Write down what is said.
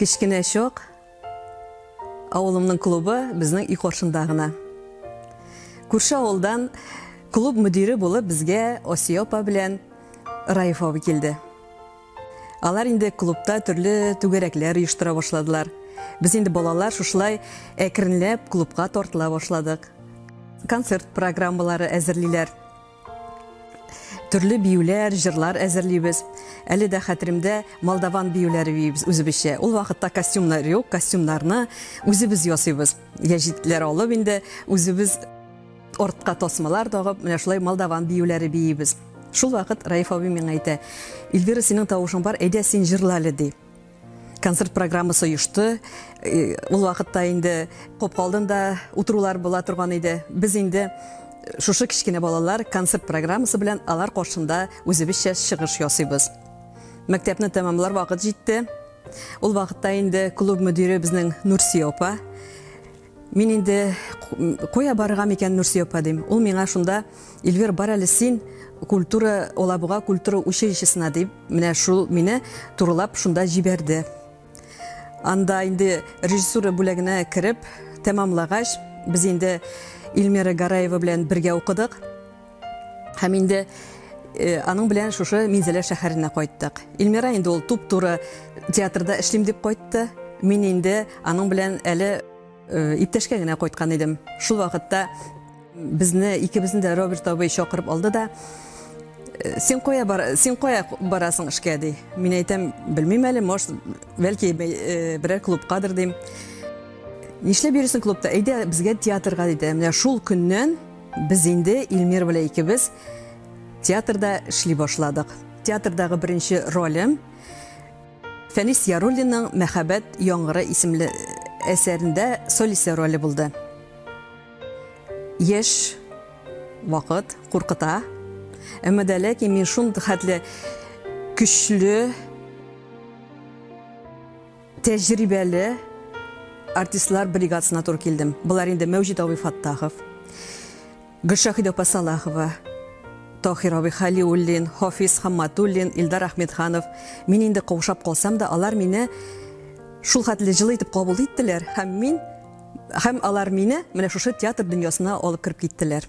Кечкенә чок авылымның клубы безнең өй каршында гына. Күрше авылдан клуб мөдире булып безгә Осия апа белән Раиф абый килде. Алар инде клубта төрле түгәрәкләр оештыра башладылар. Без инде балалар шушылай әкренләп клубка тартыла башладык. Концерт программалары әзерлиләр. Төрле биюләр, җырлар әзерлибез. Әле дә хәтеремдә молдаван биюләре биибез үзебезчә. Ул вакытта костюмнар юк, костюмнарны үзебез ясыйбыз. Яҗитләр алып инде үзебез ортка тасмалар тагып, менә шулай молдаван биюләре биибез. Шул вакыт Раиф абый миңа әйтә, Ильвира, синең тавышың бар, әйдә син җырла әле, ди. концерт программасы оешты. Э, ул вакытта инде коп алдында утырулар була торган иде. Без инде э, шушы кечкенә балалар концерт программасы белән алар каршында үзебезчә чыгыш ясыйбыз. Мәктәпне тәмамлар вакыт җитте. Ул вакытта инде клуб мөдире безнең Нурсия апа Мин инде куя барырга микән, Нурсөя апа, дим. Ул миңа шунда, Эльвир, бар әле син культура, Алабуга культура училищесына, дип, менә шул мине турылап шунда җибәрде. Анда инде режиссура бүләгенә кереп, тәмамлагач, без инде Эльмира Гараева белән бергә укыдык. Һәм инде э, аның белән шушы Минзәлә шәһәренә кайттык. Илмира инде ул туп-туры театрда эшлим дип кайтты. Мин инде аның белән әле э, иптәшкә генә кайткан идем. Шул вакытта безне икебезне дә Роберт абый чакырып алды да «Э, син кая бар син кая барасың эшкә ди мин әйтәм белмим әле может бәлки э, берәр клубкадыр дим нишләп йөрисең клубта әйдә безгә театрга диде менә шул көннән Без инде Илмир белән икебез театрда эшли башладык. Театрдагы беренче ролем Фәнис Яруллинның Мәхәббәт яңгыры исемле әсәрендә солисе роле булды. Яшь вакыт куркыта. Әмма дә ләкин мин шундый хәтле көчле Тәҗрибәле артистлар бригадасына туры килдем. Болар инде Мәүҗид абый Фаттахов, Гөлшахид апа Салахова, Тохир абый Халиуллин, Хафиз Хамматуллин, Илдар Ахмедханов. Мин инде каушап калсам да, алар мине шул хәтле җылы итеп кабул иттеләр һәм мин һәм алар мине менә шушы театр дөньясына алып кереп киттеләр.